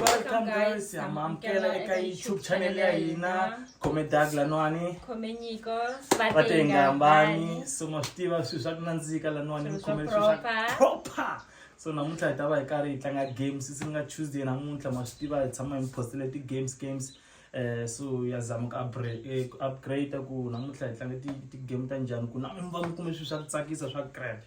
Welcome guys, hamamkela eka YouTube channel ya hina khome Doug Lanwani khome Nyiko Swatenga Mbani so ma swi tiva swilo swa ku nandzika Lanwani mi khome swilo swa proper so namuntlha hi ta va hi karhi hi tlanga games sisi nga Tuesday namuntlha ma swi tiva hi tshama hi postile ti games games eh so ya zama ku upgrade eh, upgrade ku namuntlha hi tlanga ti ti game ta njhani ku na mi va mi kume swilo swa ku tsakisa swa crap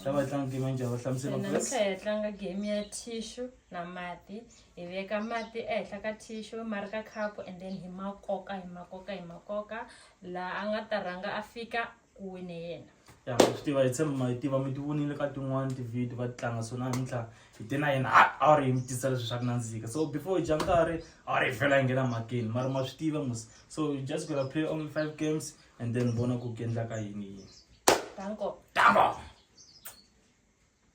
ta mm. va hi tlanga game ya njhani va hlamusela namuntlha hi tlanga game ya tissue na mati hi veka mati ehenhla ka tissue ma ri ka cup and then hi ma koka hi ma koka hi ma koka laha a nga ta rhanga a fika ku wine yena ya swi tiva hi tshemba ma yi tiva mi ti vonile ka tin'wani tivhidiyo va ti tlanga so namuntlha hi te na yena a wu ri hi mi tisa leswi swa ku nandzika so before hi dya nkarhi a wu ri hi fela hi nghena makeni mara ma swi tiva mos so you just gonna play only five games and then vona ku ku endlaka yini yini tango tango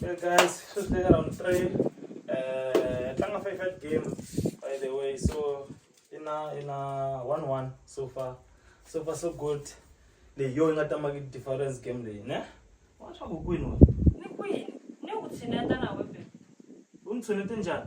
Hey guys, so today around 3 uh tlanga favorite game by the way so in a in a 1-1 so far so far so good leyi yo yi nga tama ki difference game leyi ne wa swa ku kwini wena Ni kwini? Ni ku tshineta na wewe. u ni tshunete njhani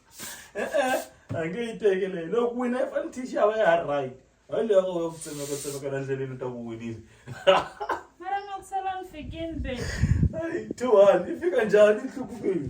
e-e a nge yi teke leyi loko wina i fane tixi ya va ya ha ri right hayi leyi yako va ku tsemeka tsemeka la ndleleni ta ku winile mara nga ku sala ni fikini be Ai, two one i fika njhani nhlukumile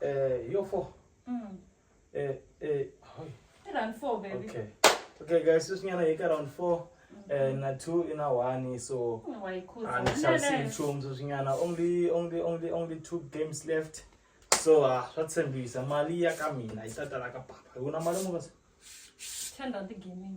Eh, yo four. Mm. Eh, eh, oh, Round four, baby. okay. Okay, guys, sis nyana yeka round four. Eh, na two ina one so Mm, wayikhutha. and we shall see Nene. chums sis nyana only only only only two games left. So ah swa tshembisa mali ya ka mina yi ta tala ka papa. Una mali mukasi? Ten rand gaming.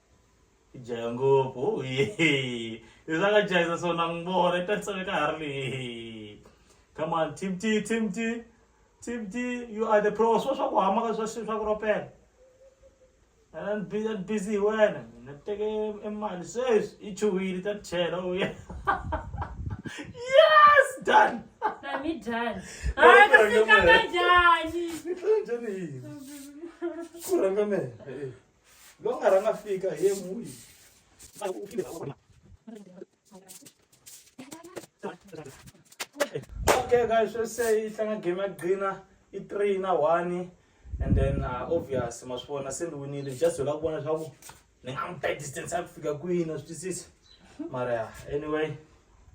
jaya ngopfu izakajayisa sona ngibona itasisane ka ha ri leyi come on team t team t team t you are the pros wa swa ku hama ka swa swa ku ropela and be that busy wena na teke emali sweswi i chuhile ta chela u ya yes done Nami done. Ay, kasi kaka dyan. ku rhanga mehe lowu nga rhanga fika hi yena wihi okay guys swo se yi tlanga game ya gcina i three na one and then uh, obvious ma swi vona se ni winile just hi la ku vona leswaku ni nga n'wi ta distance ya ku fika kwini na swi twisisa mara ya anyway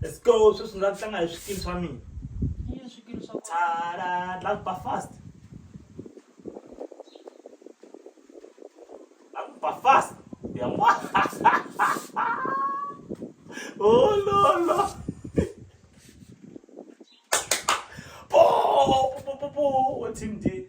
let's go sweswi ndza tlanga hi swikili swa mina yini swikili swa tsala ndla ba fast ba fast ya mwa oh no no oh po po po po team D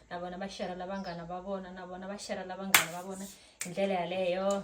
na vona va shera la vanghana va vona na vona va shera la vanghana va vona hi ndlela yaleyo